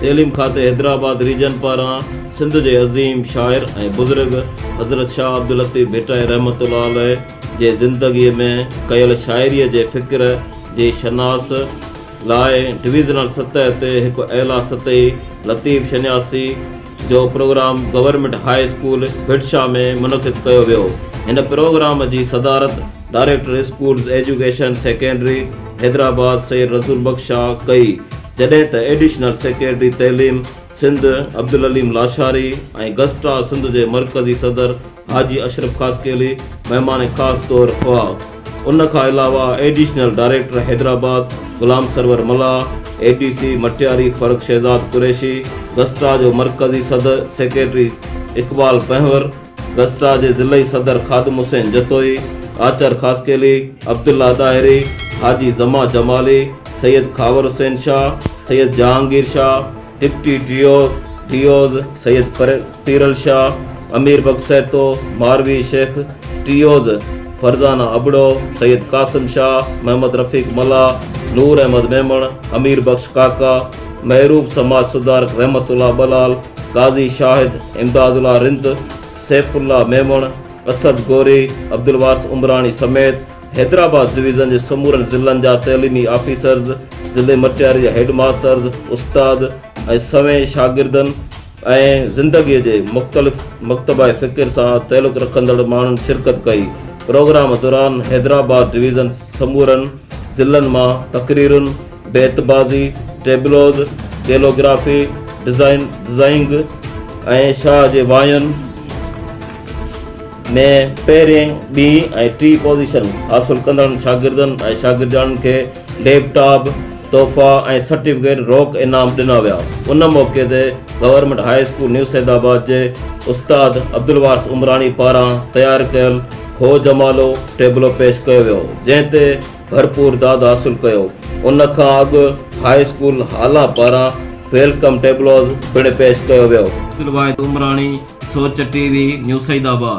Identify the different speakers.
Speaker 1: تعليم کاتي حيدرآباد ريجن پاران سنڌ جي عظيم شاعر ۽ بزرگ حضرت شاهه عبداللطيف ڀٽائي رحمة الله عليه جي زندگي ۾ ڪيل شاعري جي فڪر جي شناس لاء ڊويزنل سطح تي هڪ اعليٰ سطحي لطيف شناسي جو programme government high school Bhitshah ۾ منعقد ڪيو ويو هن پروگرام جي صدارت director schools education secretary Hyderabad Syed Rasool Bakhsh Shah ڪئي جڏهن ته ايڊيشنل سيڪريٽري تعليم سنڌ عبدالعليم لاشاري ۽ گسٽا سنڌ جي مرڪزي صدر حاجي اشرف خاصخيلي مهمان خاص طور هئا. ان کان علاوه additional director Hyderabad Ghulam Sarwar Mallah, A D C Matiari Farrukh Shahzad Qureshi, گسٽا جو مرڪزي صدر سيڪريٽري اقبال پنهور، گسٽا جي ضلعي صدر خادم حسين جتوئي، آچر خاصخيلي، عبدالله ڏاهري، حاجي زمان جمالي، سيد خاور حسين شاهه، سيد جهانگير شاهه، ڊپٽي ڊيو ڊيوز سيد پيرل شاهه، امير بخش سهتو، ماروي شيخ، ٽيوز فرزانه ابڙو، سيد قاسم شاهه، محمد رفيق ملاح، نور احمد ميمڻ، امير بخش ڪاڪا، محروب سماج سڌارڪ رحمت الله ٻلال، قاضي شاهد، امداد الله رند، سيف الله ميمڻ، اسد گوري، عبدالوارث عمراڻي سميت حيدرآباد ڊويزن جي سمورن ضلعن جا تعليمي آفيسرز، ضلعي مٽياري جا هيڊ ماسترز، استاد ۽ سوين شاگردن ۽ زندگيء جي مختلف مڪتبه فڪر سان تعلق رکندڙ ماڻهن شرڪت ڪئي. پروگرام دوران حيدرآباد ڊويزن سمورن ضلعن مان تقريرن، بيت بازي، ٽيبلوز، ڪيلوگرافي، ڊزائنگ ۽ شاهه جي واين، ۾ پهرين، ٻي ۽ ٽي پوزيشن حاصل ڪندڙن شاگردن ۽ شاگردياڻين کي ليپ ٽاپ، تحفا ۽ سرٽيفڪيٽ روڪ انعام ڏنا ويا. ان موقعي تي government high school new Saeedabad جي استاد عبدالوارث عمراڻي پاران تيار ڪيل هو جمالو ٽيبلو پيش ڪيو ويو جنهن تي ڀرپور داد حاصل ڪيو. ان کان اڳ هاء اسڪول هالا پاران ويلڪم ٽيبلوز پڻ پيش ڪيو ويو. عبدل واحد عمراڻي، سوچ ٽي وي، نيو سعيد آباد.